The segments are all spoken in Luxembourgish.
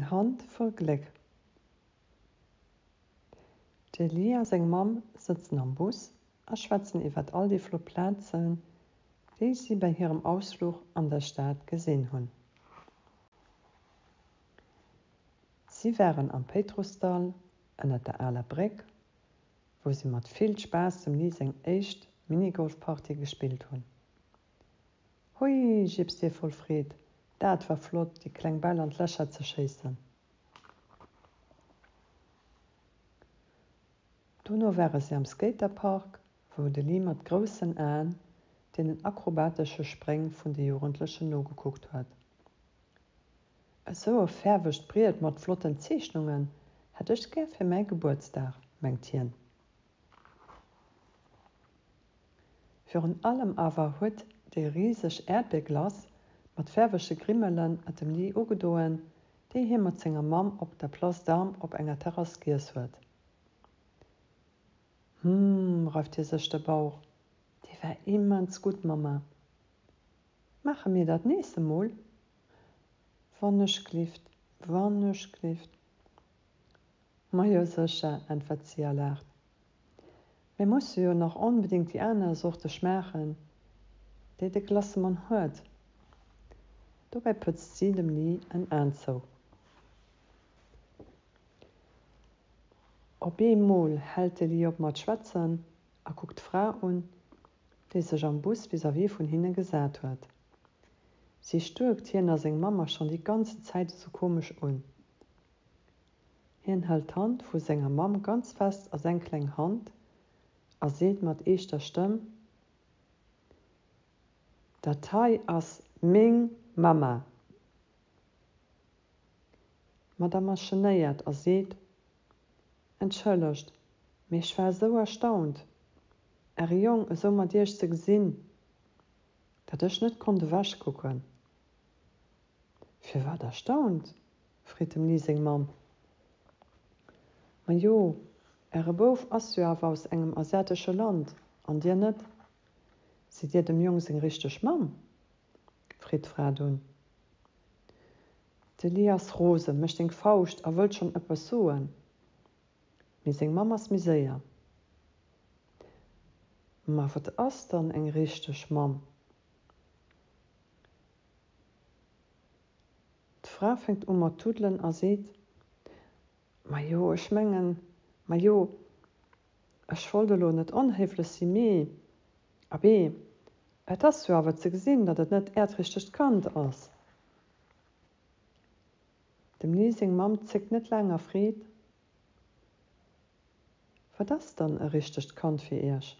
Eng Hand voll Gléck. D'Eli a seng Mamm sëtzen am Bus a schwätzen iwwert all déi flott Plazen, déi si bei hirem Ausfluch an der Stad gesinn hunn. Si waren am Péitrussdall, ënner der aler Bréck, wou si mat vill Spaass dem Li seng éischt Minigolfpartie gespillt hunn. Hui! jiipst hie voll Freed. Daat war flott, déi kleng Bäll an d'Lächer ze schéissen. Dono ware si am Skaterpark, wou de Lee mat groussen Aen deenen akrobatesche Spréng vun de Jugendlechen nogekuckt huet. Esou e fäerwegt Briet mat flotten Zeechnungen hätt ech gär fir mäi Gebuertsdag, mengt hien. Virun allem awer huet déi riseg Äerdbeerglace mat faarwege Grimmelen et dem Lee ugedoen, déi hie mat senger Mamm op der Place d'Armes op enger Terrass giess huet. Hum, reift hie sech de Bauch, déi war immens gutt, Mamma. Maache mir dat nees emol? Wann ech glift, wann ech glift. Majo sécher, äntwert si a laacht. Mir musse jo nach onbedéngt déi aner Sorte schmaachen, déi de Glassemann huet. Dobäi pëtzt si dem Lee en Aen zou. Op eemol hält de Lee op mat schwätzen a kuckt d'Fra un, déi sech am Bus vis-à-vis vun hinne gesat huet. Si stuerkt hien a seng Mamm a schonn déi ganze Zäit esou komesch un. Hien hält d'Hand vu senger Mamm ganz fest a seng kleng Hand a seet mat eeschter Stëmm, Dat hei ass meng Mamma! D'Madame ass genéiert a seet, Entschëllegt, mee ech war esou erstaunt, Äre Jong esou mat Iech ze gesinn, datt ech net konnt ewechkucken. Firwat erstaunt? freet dem Lee seng Mamm. Majo, äre Bouf ass jo awer aus engem asiatesche Land, an dir net. Sidd dir dem Jong seng richteg Mamm? freet d'Fra dunn. De Lee ass rosen, mécht eng Fauscht a wëllt schonn ëppes soen, mee seng Mamm ass méi séier. Ma wat ass dann eng richteg Mamm? D'Fra fänkt u mat tuddelen a seet, Majo, ech mengen, majo, ech wollt elo net onhéiflech si, mee abee, et ass jo awer ze gesinn, datt et net Äert richtegt Kand ass. Dem Lee seng Mamm zéckt net laang a freet, Wat ass dann e richtegt Kand fir Iech?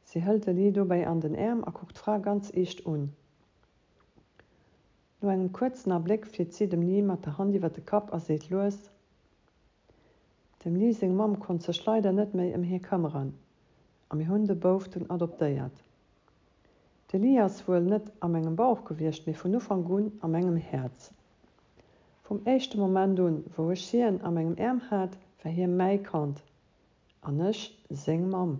Si hëlt de Lee dobäi an den Äerm a kuckt d'Fra ganz eescht un. No engem kuerzen Abléck flitt si dem Lee mat der Hand iwwer de Kapp a seet lues, Dem Lee seng Mamm konnt sech leider net méi ëm hie këmmeren a mir hunn de Bouf dunn adoptéiert. De Lee ass wuel net a mengem Bauch gewiescht, mee vun Ufank un a mengem Häerz. Vum éischte Moment un, wou ech hien a mengem Äerm hat, war hie mäi Kand. An ech seng Mamm.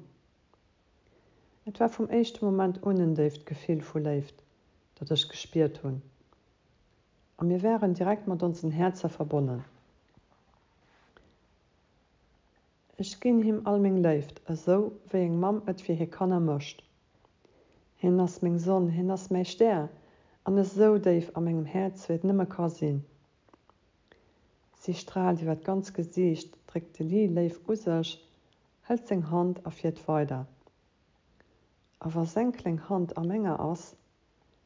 Et war vum éischte Moment un en déift Gefill vu Léift, dat ech gespiert hunn, a mir waren direkt mat onsen Häerzer verbonnen. Ech ginn him all meng Léift, esou wéi eng Mamm et fir hir Kanner mécht. Hien ass meng Sonn, hien ass mäi Stär, an esou déif a mengem Häerz, wéi et nëmme ka sinn. Si straalt iwwer d'ganz Gesiicht, dréckt de Lee léif u sech, hëlt seng Hand a fiert weider. A wa seng kleng Hand a menger ass,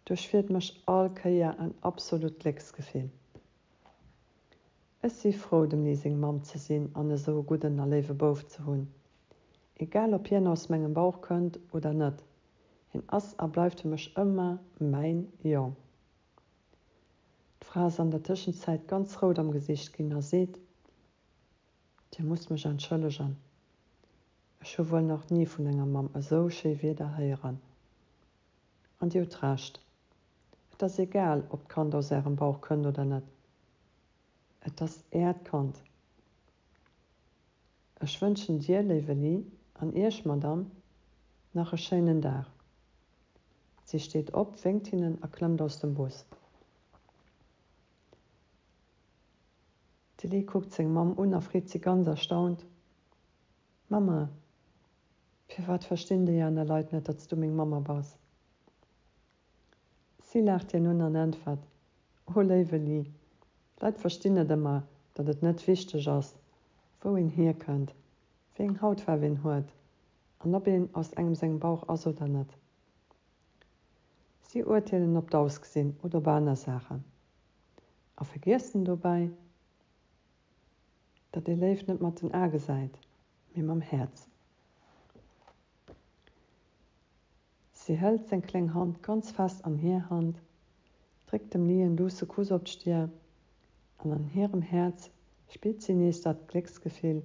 duerchfiert mech all Kéier en absolut Glécksgefill. Ech si frou, dem Lee seng Mamm ze sinn an esou e gudden a léiwe Bouf ze hunn. Egal ob hien aus mengem Bauch kënnt oder net, hien ass a bleift fir mech ëmmer mäin Jong. D'Fra ass an der Tëschenzäit ganz rout am Gesicht ginn a seet, Dir musst mech entschëllegen, ech hu wuel nach ni vun enger Mamm esou schéi Wierder héieren. An Dir hutt Recht, et ass egal, ob d'Kand aus Ärem Bauch kënnt oder net, et ass Äert Kand. Ech wënschen Dir, léiwe Lee, an Iech, Madame, nach e schéinen Dag. Si steet op, wénkt hinnen a klëmmt aus dem Bus. De Lee kuckt seng Mamm un a freet si ganz erstaunt, Mamma, firwat verstinn déi aner Leit net, datt s du meng Mamma bass? Si laacht hien un an äntwert, O léiwe Lee, d'Leit verstinn net ëmmer, datt et net wichteg ass, wou een hierkënnt, wéi eng Hautfaarf een huet an ob een aus engem sengem Bauch ass oder net. Si urteelen op d'Ausgesinn oder op aner Saachen a vergiessen dobäi, datt ee Léift net mat den Ae gesäit, mee mam Häerz. Si hëlt seng kléng Hand ganz fest an hir Hand, dréckt dem Lee en douce Kuss op d'Stir, an an hirem Häerz spillt si nees dat Glécksgefill,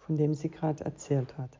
vun deem si grad erzielt huet.